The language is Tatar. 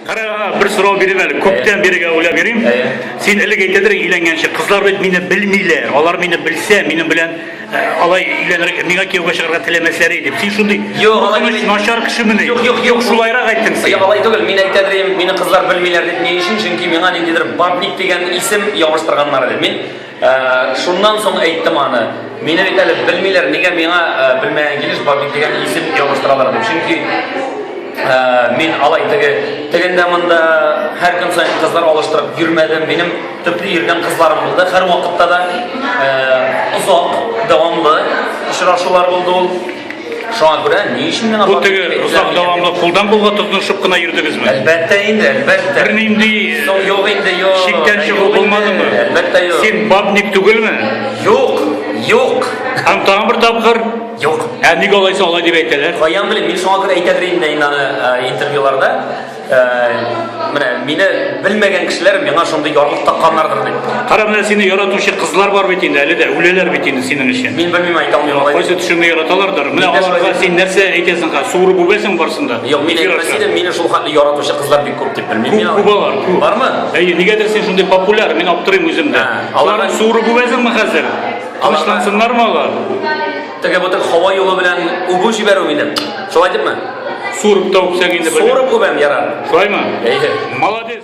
Карага, бер сорау биреп әле, күптән бирегә уйлап йөрим. Син элек әйтәдер өйләнгәнче, кызлар бит мине белмиләр. Алар мине белсә, минем белән э, алай өйләнергә, миңа кияүгә чыгарга теләмәсләр иде. Син шундый Юк, алай түгел. начар кешемени? Юк, юк, юк, шулайрак әйттең син. Юк, алай түгел. Мин әйтәдер идем, мине кызлар белмиләр дип ни өчен? Чөнки миңа ниндидер бабник дигән исем ябыштырганнар иде. Мин Ә, шуннан соң әйттем аны. Мине бит әле белмиләр, нигә миңа ә, белмәгән килеш Баби дигән исем ябыштыралар дип. Чөнки ә, мин алай теге тегендә монда һәр көн саен кызлар алыштырып йөрмәдем. Минем төпле йөргән кызларым булды. Һәр вакытта да ә, озак дәвамлы очрашулар булды ул. Шуңа күрә ни өчен миңа Бу теге озак дәвамлы кулдан кулга тотынышып кына йөрдегезме? Әлбәттә инде, әлбәттә. Бернинди Соң юк инде, юк. Чиктән чыгу булмадымы? Әлбәттә юк. Син бабник түгелме? Юк, юк. Һәм тагын бер тапкыр? Юк. Ә ник алайса алай дип әйтәләр? Каян белим, мин шуңа күрә әйтәдер инде инде аны интервьюларда. Менә мине белмәгән кешеләр миңа шундый ярлык такканнардыр дип. Кара менә сине яратучы кызлар бар бит инде, әле дә үләләр бит инде синең өчен. Мин белмим әйтә алмыйм алай. Кайсы төшеңне яраталардыр. Менә аларга син нәрсә әйтәсең хәзер? Суырып үбәсең барсын да. Юк, мин әйтмәс идем, мине шул хәтле яратучы кызлар бик күп дип белмим. Күп, күп алар, күп. Бармы? Әйе, нигәдер син шундый популяр, мин аптырыйм үзем дә. Аларны суырып үбәсеңме хәзер? Тынычлансыннармы алар? Теге бутык һава юлы белән үбү җибәрү мине. Шулай димме? Сурып та үпсәң инде. Сурып үбәм ярар. Шулаймы? Әйе. Молодец.